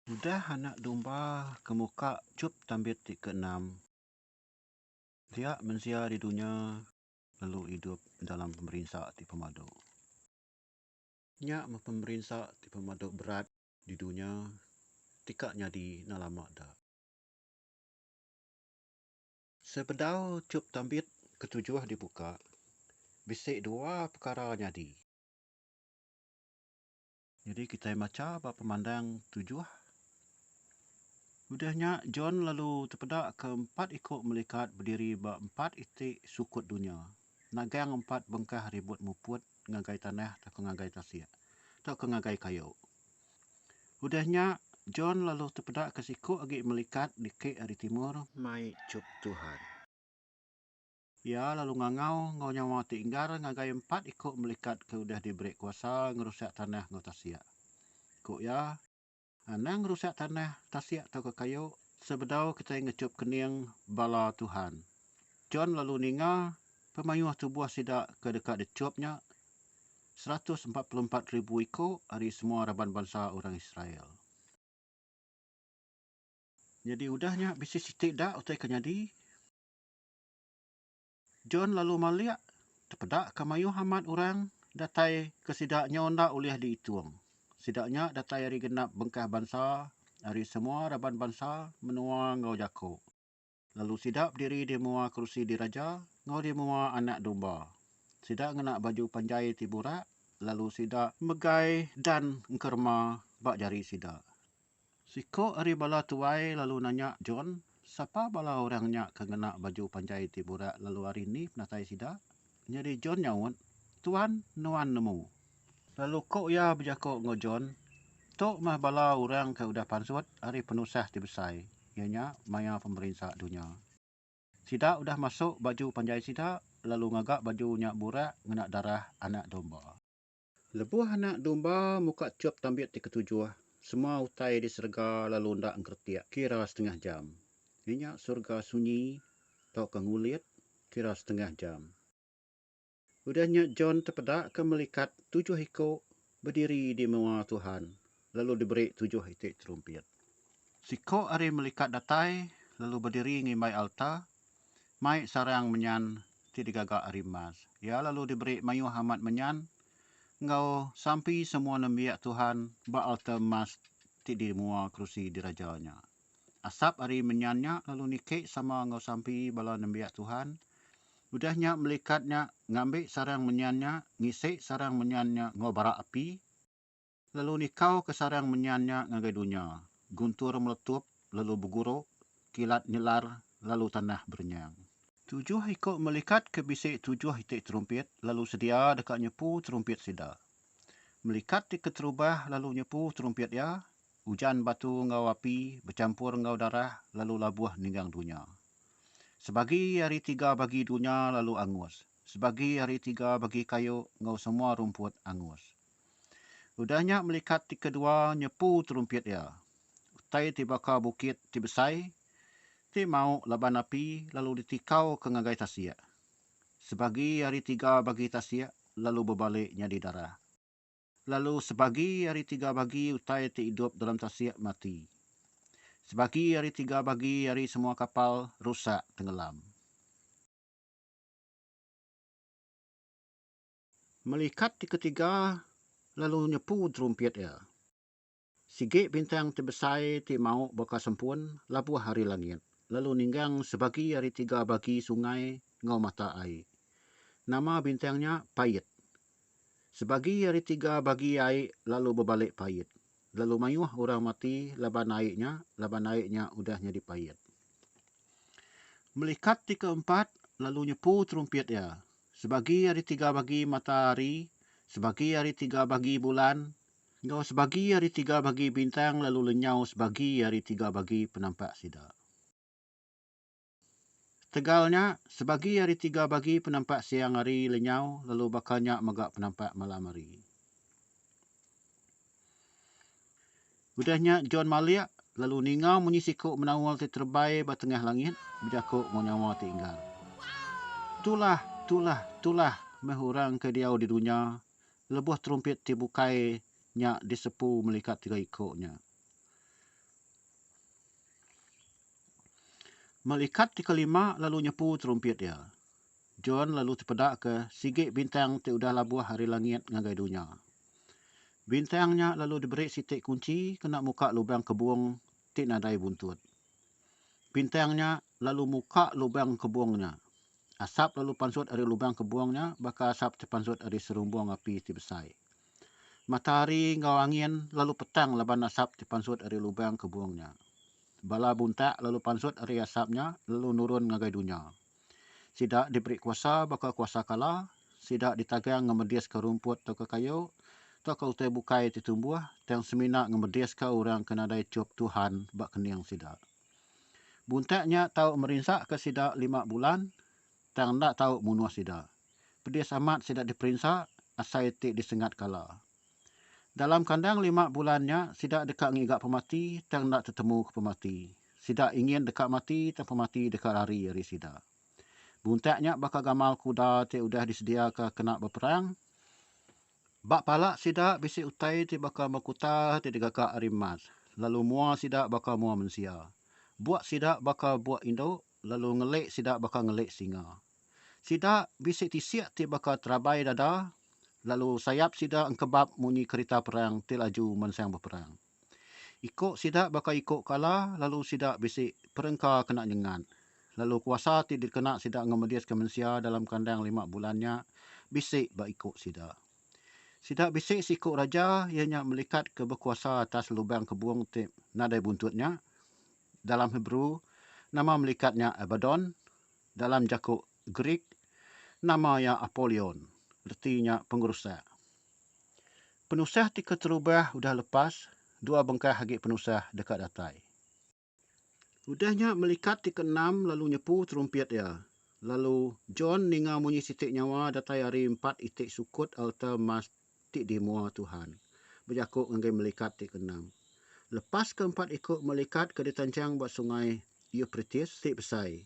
Udah Anak Domba ke muka chup tambit ti keenam, dia mensia di dunya lalu idup dalam pemerinsa ti pemadu. Nya meh pemerinsa ti pemadu berat di dunya ti ka nyadi enda lama da. Sebedau chup tambit ketujuh dibuka, bisi dua pekara nyadi. Nyadi kitai macha ba pemandang tujuh. Udah nya, John lalu tepeda ke empat iku melikat bediri ba empat iti sukut dunya, nagang empat bengkah ribut muput ngagai tanah tauka ngagai tasik, tauka ngagai kayu. Udah nya, John lalu tepeda ke siku agi melikat dikik ari timur, mai chup Tuhan. Iya lalu ngangau enggau nyawa ti enggar ngagai empat iku melikat ke udah diberi kuasa ngerusak tanah enggau tasik. Ku iya, Anang ngerusak tanah, tasik tauka kayu sebedau kitai ngechup kening bala Tuhan. John lalu ninga pemayuh tubuh sida ke deka dichup nya, seratus empat puluh empat ribu iku ari semua raban bansa orang Israel. Nyadi udah nya bisi siti da utai ke nyadi? John lalu malik tepeda ke mayuh amat orang datai ke sida nyau enda ulih diitung. Sida nya datai ari genap bengkah bansa, ari semua raban bansa, menua enggau jaku. Lalu sida bediri di mua kerusi diraja enggau di mua Anak Domba. Sida ngena baju panjai ti burak lalu sida megai dan engkerema ba jari sida. Siku ari bala tuai lalu nanya John, Sapa bala orang nya ke ngena baju panjai ti burak lalu ari ni penatai sida? Nyadi John nyaut, Tuan, nuan nemu. Lalu ku iya bejaku enggau John, Tu meh bala orang ke udah pansut ari penusah ti besai, iya nya maya pemerinsa dunya. Sida udah masuk baju panjai sida lalu ngaga baju nya burak ngena darah Anak Domba. Lebuh Anak Domba muka tiup tambit ti ketujuh, semua utai di serega lalu enda ngeretik kira setengah jam. Iya nya serega sunyi tauka ngulit kira setengah jam. Udah nya John tepedaka melikat tujuh iku bediri di menua Tuhan lalu diberi tujuh iti terumpit. Siku ari melikat datai lalu bediri ngimbai alta, mai sarang menyan ti digaga ari emas. Iya lalu diberi mayuh amat menyan enggau sampi semua nembiak Tuhan ba alta emas ti di mua kerusi diraja nya. Asap ari menyan nya lalu niki sama enggau sampi bala nembiak Tuhan. Udah nya melikat nya ngambi sarang menyan nya ngisi sarang menyan nya enggau bara api. Lalu nikau ke sarang menyan nya ngagai dunya, guntur meletup lalu beguru, kilat nyelar lalu tanah berenyang. Tujuh iku melikat ke bisi tujuh iti terumpit lalu sedia deka nyepu terumpit sida. Melikat ti keterubah lalu nyepu terumpit iya, ujan batu enggau api bechampur enggau darah lalu labuh ninggang dunya. Sebagi ari tiga bagi dunya lalu angus, sebagi ari tiga bagi kayu enggau semua rumput angus. Udah nya melikat ti kedua nyepu terumpit iya. Utai ti baka bukit ti besai ti mauk laban api lalu ditikauka ngagai tasik. Sebagi ari tiga bagi tasik lalu bebalik nyadi darah. Lalu sebagi ari tiga bagi utai ti idup dalam tasik mati. Sebagi ari tiga bagi ari semua kapal rusak tenggelam. Melikat ti ketiga lalu nyepu terumpit iya. Sigi bintang ti besai ti mau baka sempun labuh ari langit lalu ninggang sebagi ari tiga bagi sungai enggau mata ai. Nama bintang nya Pait. Sebagi ari tiga bagi ai lalu bebalik pait, lalu mayuh orang mati laban ai nya laban ai nya udah nyadi pait. Melikat ti keempat lalu nyepu terumpit iya. Sebagi ari tiga bagi matahari, sebagi ari tiga bagi bulan, enggau sebagi ari tiga bagi bintang lalu lenyau sebagi ari tiga bagi penampak sida. Ketegal nya, sebagi ari tiga bagi penampak siang hari lenyau lalu baka nya mega penampak malam hari. Udah nya John malik, lalu ninga munyi siku menaul ti terebai ba tengah langit bejaku enggau nyawa ti enggal, Tulah! Tulah! Tulah! Meh orang ke diau di dunya lebuh terumpit ti bukai nya disepu melikat tiga iku nya. Melikat ti kelima lalu nyepu terumpit iya. John lalu tepedaka sigi bintang ti udah labuh ari langit ngagai dunya. Bintang nya lalu diberi siti kunchi kena muka lubang kebung ti nadai buntut. Bintang nya lalu muka lubang kebung nya. Asap lalu pansut ari lubang kebung nya baka asap ti pansut ari serumbung api ti besai. Matahari enggau angin lalu petang laban asap ti pansut ari lubang kebung nya. Bala buntak lalu pansut ari asap nya lalu nurun ngagai dunya. Sida diberi kuasa baka kuasa kala, sida ditagang ngemediska rumput tauka kayu, tauka utai bukai ti tumbuh, tang semina ngemediska orang ke nadai chup Tuhan ba kening sida. Buntak nya tau merinsaka sida lima bulan, tang enda tau munuh sida. Pedis amat sida diperinsa asai ti disengat kala. Dalam kandang lima bulan nya, sida deka ngiga pemati tang enda tetemuka pemati. Sida ingin deka mati tang pemati deka lari ari sida. Buntak nya baka gamal kuda ti udah disediaka kena beperang. Ba pala sida bisi utai ti baka makuta ti digaga ari emas, lalu mua sida baka mua mensia. Buk sida baka buk indu, lalu ngelik sida baka ngelik singa. Sida bisi tisik ti baka terabai dada, lalu sayap sida engkebap munyi kerita perang ti laju mansang beperang. Iko sida baka iko kala lalu sida bisi perengka kena nyengat. Lalu kuasa ti dikena sida ngemediska mensia dalam kandang lima bulan nya bisi ba iko sida. Sida bisi seiko raja iya nya melikat ke bekuasa atas lubang kebung ti nadai buntut nya, dalam Hebrew nama melikat nya Abaddon, dalam jaku Greek, nama iya Apolion, reti nya Pengerusak. Penusah ti keterubah udah lepas, dua bengkah agi penusah deka datai. Udah nya melikat ti keenam lalu nyepu terumpit iya, lalu John ninga munyi siti nyawa datai ari empat iti sukut alta emas ti dimua Tuhan, bejaku ngagai melikat ti keenam. Lepas ke empat iku melikat ke ditanchang ba Sungai Eupritis ti besai,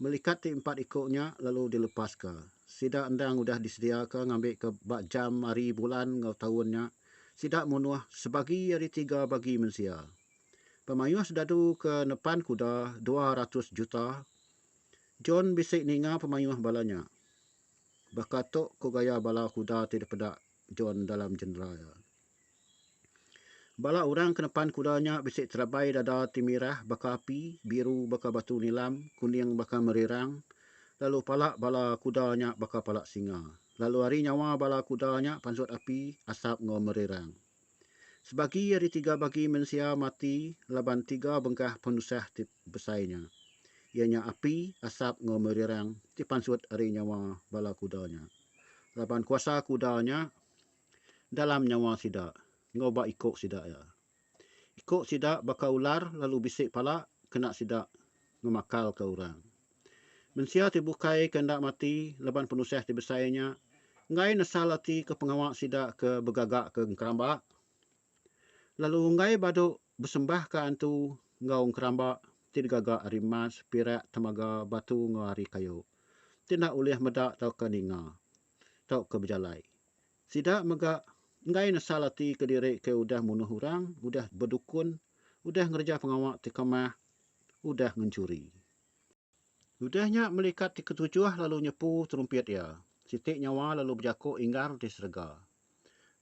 melikat ti empat iku nya lalu dilepaska. Sida endang udah disediaka ngambika ba jam ari bulan enggau taun nya sida munuh sebagi ari tiga bagi mensia. Pemayuh sedadu ke nepan kuda dua ratus juta, John bisi ninga pemayuh bala nya. Baka tu ku gaya bala kuda ti dipeda John dalam jeneral iya. Bala orang ke nepan kuda nya bisi terabai dada ti mirah baka api, biru baka batu nilam, kuning baka merirang, lalu pala bala kuda nya baka pala singa. Lalu ari nyawa bala kuda nya pansut api, asap enggau merirang. Sebagi ari tiga bagi mensia mati laban tiga bengkah penusah ti besai nya, iya nya api, asap enggau merirang ti pansut ari nyawa bala kuda nya. Laban kuasa kuda nya dalam nyawa sida enggau ba iko sida iya. Iko sida baka ular lalu bisi pala kena sida ngemakalka orang. Mensia ti bukai ke enda mati leban penusah ti besai nya enggai nesal ati ke pengawa sida ke begagaka engkeramba, lalu enggai badu besembahka antu enggau engkeramba ti digaga ari emas, pirak, temaga, batu enggau ari kayu, ti enda ulih meda tauka ninga, tauka bejalai, Sida mega enggai nesal ati kediri ke udah munuh orang, udah bedukun, udah ngereja pengawa ti kemah, udah ngenchuri. Udah nya melikat ti ketujuh lalu nyepu terumpit iya, siti nyawa lalu bejaku inggar di serega.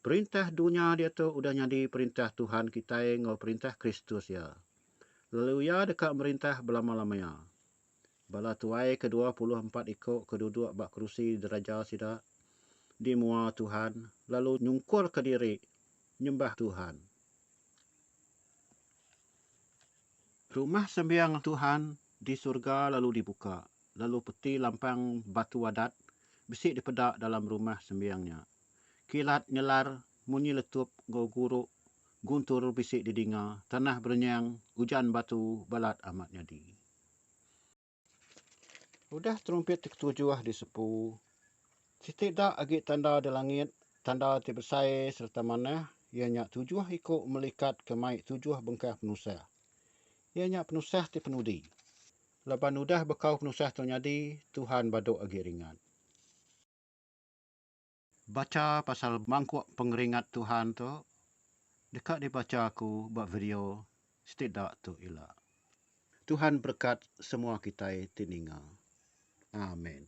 Perintah dunya diatu udah nyadi perintah Tuhan kitai enggau perintah Kristus iya, lalu iya deka merintah belama-lamaya. Bala tuai ke dua puluh empat iku ke duduk ba kerusi diraja sida di mua Tuhan lalu nyungkurka diri nyembah Tuhan. Rumah sembiang Tuhan di surga lalu dibuka, lalu peti lampang batu adat bisi dipeda dalam rumah sembiang nya. Kilat nyelar, munyi letup enggau guru guntur bisi didinga, tanah berenyang, ujan batu balat amat nyadi. Udah terumpit ti ketujuh disepu, siti da agi tanda di langit, tanda ti besai sereta manah, iya nya tujuh iku melikat ke mai tujuh bengkah penusah. Iya nya penusah ti penudi. Laban udah bekau penusah tu nyadi, Tuhan badu agi ringat. Bacha pasal mangkuk pengeringat Tuhan tu deka dibacha aku ba video siti da tu ila. Tuhan berekat semua kitai ti ninga. Amen.